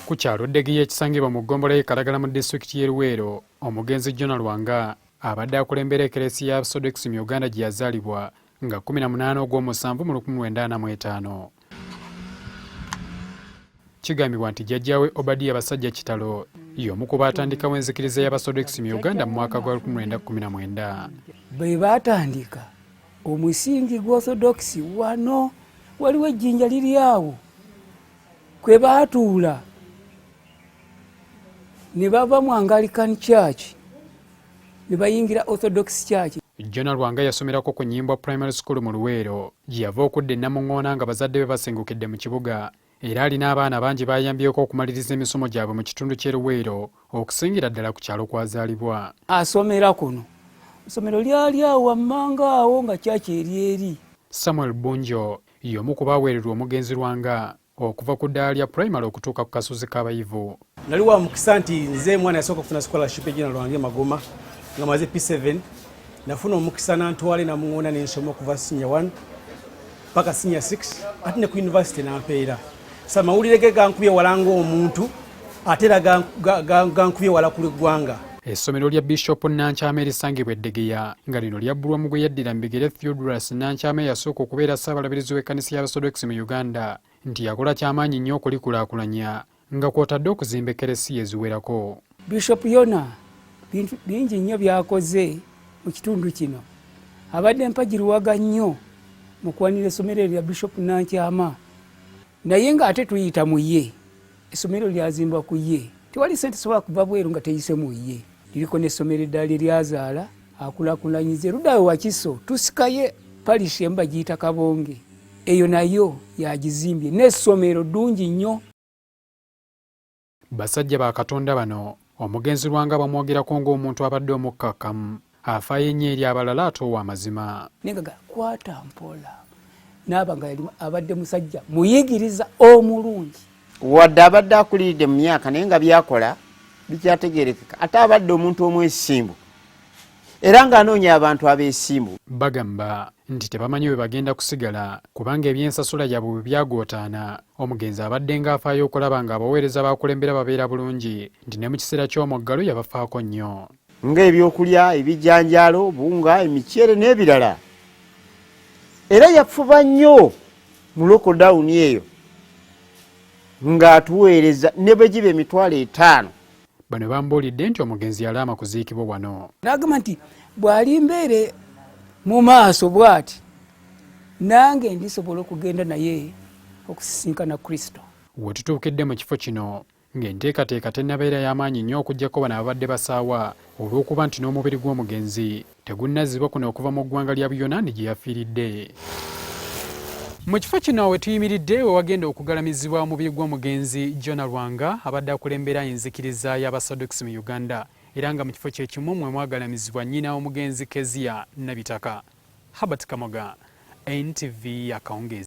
Ku kyalo Ddegiya ekisangibwa mu ggombolola y'e Kalagala mu disitulikiti y'e Luweero, omugenzi Jona Lwanga abadde akulembera ekereesi ya Sodex mu Uganda gye yazaalibwa nga 18 ogw'omusanvu mu 1945. Kigambibwa nti jjajjaawe Obadiya Basajja Kitalo y'omu ku baatandikawo enzikiriza y'Abasodex mu Uganda mu mwaka gwa 1919. Be baatandika omusingi gw'orthodoksi wano waliwo ejjinja liri awo kwe baatuula ne bava mu angalican church ne bayingira orthodox church Jona Lwanga yasomerako ku Nyimbwa Primary School mu Luweero gye yava okudda e Namuŋŋoona nga bazadde be basengukidde mu kibuga era alina abaana bangi baayambyeko okumaliriza emisomo gyabwe mu kitundu ky'e Luweero okusingira ddala ku kyalo kwazaalibwa. Asomera kuno essomero lyali awo wammanga awo nga kyaki eri eri. Samuel Bunjo y'omu ku baaweererwa omugenzi Lwanga okuva ku ddaala lya pulayimale okutuuka ku kasozi k'abayivu nali wa mukisa nti nze mwana yasooka kufuna scholarship ejina lwange magoma nga maze p7 nafuna omukisa nantwale namuŋona nensoma okuva sinya 1 paka sinya 6 ate ne ku university nampeera sa mawulire ge gankubye wala ngaomuntu ate era gankubye wala kuli ggwanga essomero lya bishop nankyama erisangibwa eddegeya nga lino lyabbulwa mu gwe yaddira mu bigere theodorus nankyama eyasooka okubeera ssaabalabirizi w'ekkanisa y'abasodokisi mu uganda nti yakola kyamaanyi nnyo okulikulaakulanya nga kw'otadde okuzimba ekkeresiya eziwerako. Bishop Yona bintu bingi nnyo byakoze mu kitundu kino. Abadde mpagiruwaga nnyo mu kuwanira essomero erya Bishop Nankyama naye ng'ate tuyita mu ye essomero lyazimbwa ku ye tewali sente sobola kuva bweru nga teyise mu ye liriko n'essomero eddala lye lyazaala akulakulanyize ludawe wakiso tusikaye parish emu bagiyita kabonge eyo nayo yagizimbye n'essomero ddungi nnyo basajja ba katonda bano omugenzi lwanga bamwogerako ng'omuntu abadde omukkakkamu afaayo ennyo eri abalala ate ow'amazima negaga kwata mpola naaba nga yali abadde musajja muyigiriza omulungi wadde abadde akuliridde mu myaka naye nga byakola bikyategerekeka ate abadde omuntu omwesimbu era ng'anoonya abantu abeesimbu bagamba nti tebamanyi bwe bagenda kusigala kubanga ebyensasula yabwe bwe byagootaana omugenzi abadde ng'afaayo okulaba ng'abaweereza baakulembera babeera bulungi nti ne mu kiseera ky'omuggalo yabafaako nnyo nga ebyokulya ebijanjaalo bunga emiceere n'ebirala era yafuba nnyo mu lokodawuni eyo ng'atuweereza ne bwe giba emitwalo etaano bano bambuulidde nti omugenzi yalaama kuziikibwa wano n'agamba nti bw'ali mbeere mu maaso bw'ati nange ndisobola okugenda naye okusisinkana kristo we tutuukidde mu kifo kino ng'enteekateeka tennabeera y'amaanyi nnyo okuggyako bano ababadde basaawa olw'okuba nti n'omubiri gw'omugenzi tegunnazzibwa kuno okuva mu ggwanga lya Buyonaani gye yafiiridde. Mu kifo kino we tuyimiridde we wagenda okugalamizibwa omubiri gw'omugenzi Jonah Lwanga abadde akulembera enzikiriza y'Abasadokisi mu Uganda era nga mu kifo kye kimu mwe mwagalamizibwa nnyina omugenzi Kezia Nabitaka. Herbert Kamoga, NTV Akawungeezi.